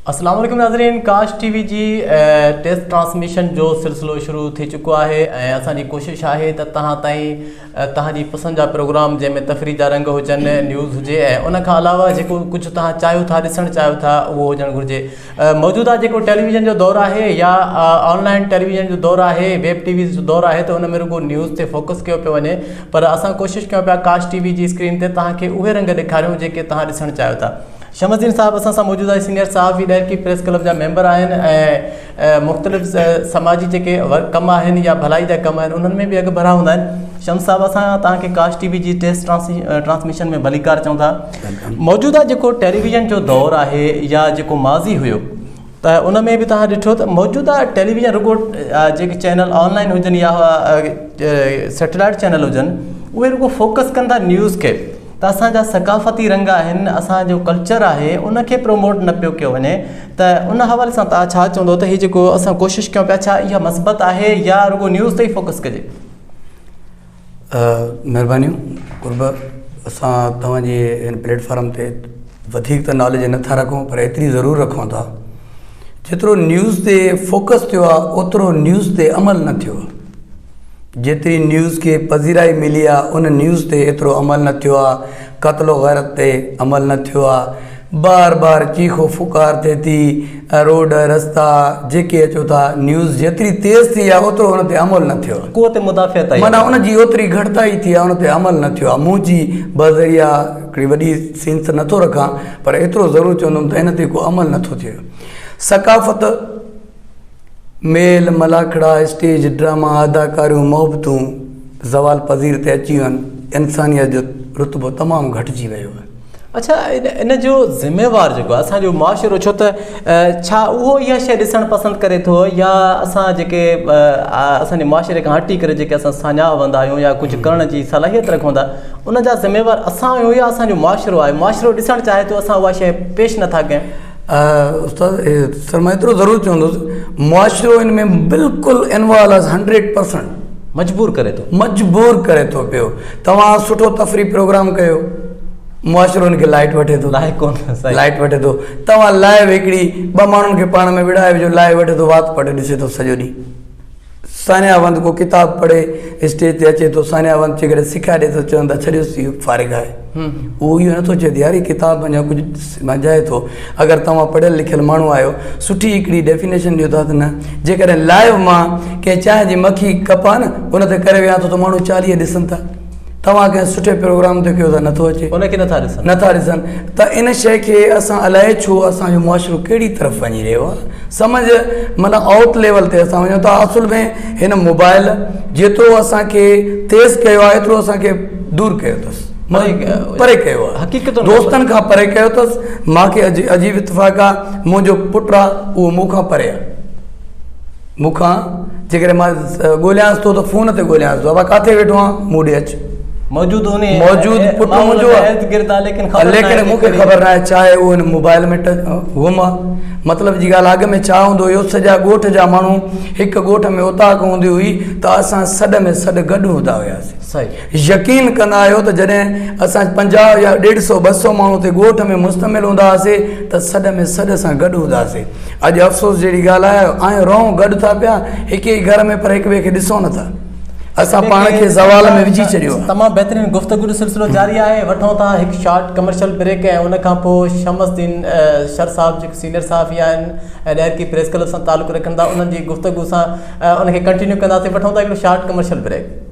السلام عليڪم ناظرين ڪاش ٽي وي جي ٽيسٽ ٽرانسميشن جو سلسلو شروع ٿي چڪو آهي ۽ اسان جي ڪوشش آهي ته تهان تائين تهان جي پسند جا پروگرام جنهن ۾ تفريح جا رنگ هجن نيوز هجي ۽ ان کان علاوه جيڪو ڪجهه تهان چاهيو ٿا ڏسڻ چاهيو ٿا اهو هجڻ گهرجي موجوده جيڪو ٽيليويزن جو دور آهي يا آنلائن ٽيليويزن جو دور آهي ويب ٽي ويز جو دور آهي ته ان ۾ رڳو نيوز تي فوڪس ڪيو پيو وڃي پر اسان ڪوشش ڪيون پيا ڪاش ٽي وي جي اسڪرين تي تهان کي اهي رنگ ڏيکاريون جيڪي تهان ڏسڻ چاهيو ٿا شمس الدين صاحب اسان سان موجود آهن سينئر صحافي ڏهرڪي پريس ڪلب جا ميمبر آهن ۽ مختلف سماجي جيڪي ڪم آهن يا ڀلائي جا ڪم آهن انهن ۾ به اڳڀرا هوندا آهن شمس صاحب اسان تان کي ڪاش ٽي وي جي ٽيسٽ ٽرانسميشن ۾ ڀليڪار چون ٿا موجوده جيڪو ٽيليويزن جو دور آهي يا جيڪو ماضي هيو ته ان ۾ به توهان ڏٺو ته موجوده ٽيليويزن رڳو جيڪي چينل آنلائن هجن يا سيٽلائيٽ چينل هجن اهي رڳو فوڪس ڪن ٿا نيوز کي ته اسانجا ثقافتي رنگ آهن اسانجو ڪلچر آهي ان کي پروموٽ نه پيو ڪيو وڃي ته ان حوالي سان توهان ڇا چوندو ته هي جيڪو اسان ڪوشش ڪيو پيا ڇا اها مثبت آهي يا رڳو نيوز تي فوڪس ڪجي مھربانيون قرب اسان توھان جي ھن پليٽ فارم تي وڌيڪ ته ناليج نٿا رکون پر ايتري ضرور رکون ٿا جيترو نيوز تي فوڪس ٿيو آ اوترو نيوز تي عمل نه ٿيو جيتري نيوز کي پذيرائي ملي آ ان نيوز تي ايترو عمل نه ٿيو آ قتل و غيرت تي عمل نه ٿيو آ بار بار چيخو ڦوڪار ٿئي ٿي ۽ روڊ رستا جيڪي اچو ٿا نيوز جيتري تيز ٿي آهي اوترو ان تي عمل نه ٿيو آهي قوت مدافعت آهي معنيٰ ان جي اوتري گهٽتائي ٿي آهي ان تي عمل نه ٿيو آهي منهنجي بذريعا هڪڙي وڏي سينس نه ٿو رکان پر ايترو ضرور چوندم ته ان تي ڪو عمل نه ٿو ٿئي ثقافت ميل ملاکڙا، اسٽيج ڊراما، اداڪاريون، محبتون زوال پذير تي اچي ويون، انسانيت جو رتبو تمام گهٽجي ويو آهي. اڇا ان جو ذميوار جيڪو آهي اسان جو معاشرو ڇو ته ڇا اهو اها شيء ڏسڻ پسند ڪري ٿو يا اسان جيڪي اسان جي معاشري کان هٽي ڪري جيڪي اسان ساڃاهه هوندا آهيون يا ڪجهه ڪرڻ جي صلاحيت رکون ٿا ان جا ذميوار اسان آهيون يا اسان جو معاشرو آهي معاشرو ڏسڻ چاهي ٿو اسان اها شيء پيش نٿا ڪيون استاد سر مان ايترو ضرور چوندس معاشرو ان ۾ بلڪل انوالو آهي هنڊريڊ پرسنٽ مجبور ڪري ٿو مجبور ڪري ٿو پيو توهان سٺو تفريح پروگرام ڪيو معاشرو ان کي لائٽ وٺي ٿو لائق ڪون لائٽ وٺي ٿو توهان لائو هڪڙي ٻه ماڻهن کي پاڻ ۾ وڙهائي وجھو لائو وٺي ٿو وات پٽ ڏسي ٿو سڄو ڏينهن سانيا وند ڪو ڪتاب پڙهي اسٽيج تي اچي ٿو سانيا وند جيڪڏهن سکيا ڏئي ٿو چون ٿا ڇڏيوس هي فارغ آهي اهو اهو نٿو چئي ته يار هي ڪتاب اڃا ڪجهه سمجهائي ٿو اگر توهان پڙهيل لکيل ماڻهو آهيو سٺي هڪڙي ڊيفينيشن ڏيو ٿا ته نه جيڪڏهن لائيو مان ڪنهن چانهه جي مکي ڪپان ان تي ڪري ويهان ٿو ته ماڻهو چاليهه ڏسن ٿا توهان ڪنهن سٺي پروگرام تي ڪيو ٿا نٿو اچي ان کي نٿا ڏسن نٿا ڏسن ته ان شيء کي اسان الائي ڇو اسان جو معاشرو ڪهڙي طرف وڃي رهيو آهي سمجھ مانا آؤٽ ليول تي اسان وڃون ٿا اصل ۾ هن موبائل جيترو اسانکي تيز ڪيو آهي ايترو اسانکي دور ڪيو اٿس پري ڪيو آهي حقيقت دوستن کان پري ڪيو اٿس مانکي عجيب اتفاق آهي منهنجو پٽ آهي اهو مون کان پري آهي مون کان جيڪڏهن مان ڳوليانس ٿو ته فون تي ڳوليانس ٿو، ابا ڪاٿي ويٺو آن؟ مون ڏي اچ. موجود انهي موجود پٽ ماحول منهنجو ۾ آ. ارد گرد آ ليڪن خبر ناهي ليڪن مون کي ڪهڙي. خبر ناهي ڇا اهي هن موبائل ۾ ٽچ گم آ. مطلب جي ڳالهه اڳ ۾ ڇا هوندو هيو سڄا ڳوٺ جا ماڻهو هڪ ڳوٺ ۾ اوطاق هوندي هئي ته اسان سڏ ۾ سڏ گڏ هوندا هياسين. صحيح. يقين ڪندا آهيو ته جڏهن اسان پنجاهه يا ڏيڍ سئو ٻه سئو ماڻهو تي ڳوٺ ۾ مشتمل هوندا هئاسين ته سڏ ۾ سڏ سان گڏ هوندا سين اڄ افسوس جهڙي ڳالهه آهي آيون رئون گڏ ٿا پيا هڪ ئي گهر ۾ پر هڪ ٻئي کي ڏسون نٿا اسان پاڻ کي زوال ۾ وجهي ڇڏيو آهي تمام بهترين گفتگو جو سلسلو جاري آهي وٺون ٿا هڪ شارٽ ڪمرشل بريڪ ۽ ان کان پوء شمس الدين شر صاحب جيڪي سينئر صحافي آهن ۽ ڏهرڪي پريس ڪلب سان تعلق رکن ٿا انهن جي گفتگو سان ان کي ڪنٽينيو ڪنداسين وٺون ٿا هڪڙو short commercial break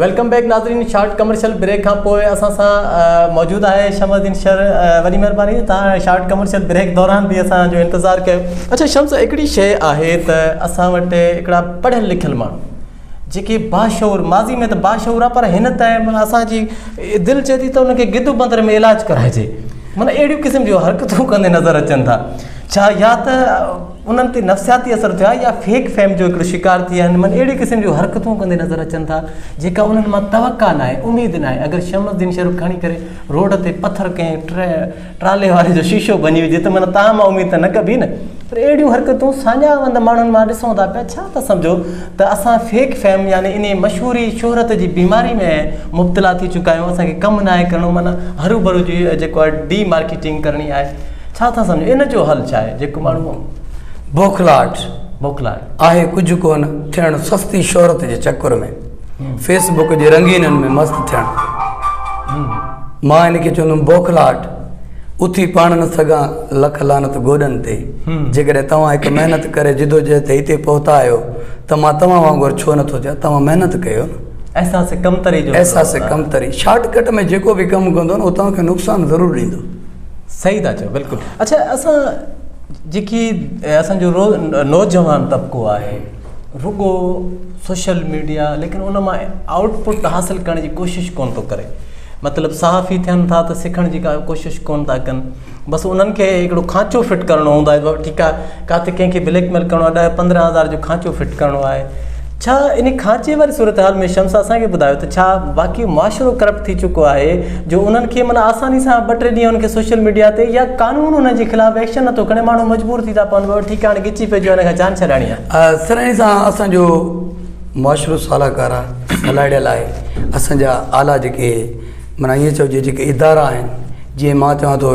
welcome back ناظرين شارٽ ڪمرشل بريڪ کان پوء اسان سان موجود آهي شمس الدين شر وڏي مهرباني تان شارٽ ڪمرشل بريڪ دوران به اسان جو انتظار ڪيو اچھا شمس هڪڙي شيء آهي ته اسان وٽ هڪڙا پڙهيل لکيل ماڻهو جيڪي باشعور ماضي ۾ ته باشعور آ پر هن ٽائم اسان جي دل چي ٿي ته ان کي گدو بندر ۾ علاج ڪرائجي معنی اهڙي قسم جو حرڪتون ڪندي نظر اچن ٿا ڇا يا ته انهن تي نفسياتي اثر ٿيو آهي يا فيڪ فيم جو هڪڙو شڪار ٿي ويا آهن معني اهڙي قسم جون حرڪتون ڪندي نظر اچن ٿا جيڪا انهن مان توقع ناهي اميد ناهي اگر شمس الدين شرف کڻي ڪري روڊ تي پٿر ڪنهن ٽرالي واري جو شيشو ڀڃي وجهي ته معنيٰ تان مان اميد ته نه ڪبي نه پر اهڙيون حرڪتون ساڃاهه وند ماڻهن مان ڏسون ٿا پيا ڇا ٿا سمجهو ته اسان فيڪ فيم يعني انهي مشهوري شهرت جي بيماري ۾ مبتلا ٿي چڪا آهيون اسان کي ڪم ناهي ڪرڻو معنيٰ هرو ڀرو جي جيڪو آهي ڊي مارڪيٽنگ ڪرڻي آهي ڇا ٿا سمجهو ان جو حل ڇا آهي جيڪو ماڻهو بوکلاهٽ بوکلاهٽ. آهي ڪجهه ڪونه ٿيڻ سستي شهرت جي چڪر ۾ فيس بڪ جي رنگينن ۾ مست ٿيڻ مان ان کي چوندم بوکلاهٽ اٿي پاڻ نه سگهان لک لعنت گوڏن تي جيڪڏهن توهان هڪ محنت ڪري جدوجهد تي هتي پهتا آهيو ته مان توهان وانگر ڇو نه ٿو چان توهان محنت ڪيو نه احساس ڪمتري جو احساس ڪمتري شارٽ ڪٽ ۾ جيڪو به ڪم ڪندو نه هو توهان کي نقصان ضرور ڏيندو. صحيح ٿا چئو بلڪل اڇا اسان جيڪي اسان جو روز نوجوان طبقو آهي رڳو سوشل ميڊيا ليڪن ان مان آؤٽ پٽ حاصل ڪرڻ جي ڪوشش ڪون ٿو ڪري مطلب صحافي ٿين ٿا ته سکڻ جي ڪا ڪوشش ڪون ٿا ڪن بس انهن کي هڪڙو کانچو فٽ ڪرڻو هوندو آهي ٺيڪ آهي ڪاٿي ڪنهن کي بليڪ ميل ڪرڻو آهي ڏهه پندرهن هزار جو کانچو فٽ ڪرڻو آهي ڇا ان کانچي واري صورتحال ۾ شمس اسان کي ٻڌايو ته ڇا واقعي معاشرو ڪرپٽ ٿي چڪو آهي جو انهن کي معنيٰ آساني سان ٻه ٽي ڏينهن ان کي سوشل ميڊيا تي يا قانون انهن جي خلاف ايڪشن نٿو کڻي ماڻهو مجبور ٿي ٿا پون ٺيڪ هاڻي ڳچي پئجو هن کان جان ڇڏائڻي آهي سرهاڻي صاحب اسان جو معاشرو صلاحڪار آهي صلاحڙيل آهي اسان جا اعليٰ جيڪي معنيٰ ائين چئجي جيڪي ادارا آهن جيئن مان چوان ٿو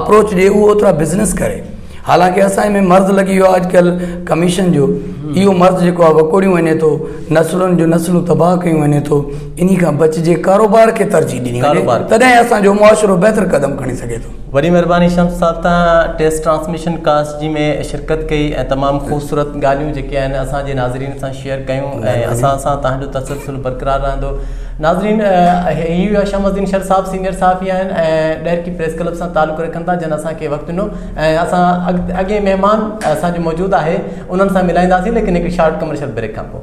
اپروچ ڏي اهو اوترا بزنس ڪري حالانڪه اسان ۾ مرض لڳي ويو آهي اڄڪلهه ڪميشن جو اهو مرض جيڪو آهي وڪوڙيون وڃي ٿو نسلن جون نسلون تباهه ڪيون وڃي ٿو انهي کان بچجي ڪاروبار کي ترجيح ڏني وڃي تڏهن اسان جو معاشرو بهتر قدم کڻي سگهي ٿو وڏي مهرباني شمس صاحب تان ٽيسٽ ٽرانسميشن ڪاسٽ جي ۾ شرڪت ڪئي ۽ تمام خوبصورت ڳالهيون جيڪي آهن اسان جي ناظرين سان شيئر ڪيون ۽ اسان سان تهان جو تسلسل برقرار رهندو ناظرين هي هئا شمس الدين شر صاحب سينيئر صحافي آهن ۽ ڏهرڪي پريس ڪلب سان تعلق رکن ٿا جن اسان کي وقت ڏنو ۽ اسان اڳين مهمان اسان جو موجود آهي انهن سان ملائينداسين ليڪن هڪ شارٽ ڪمرشل بريڪ کان پوء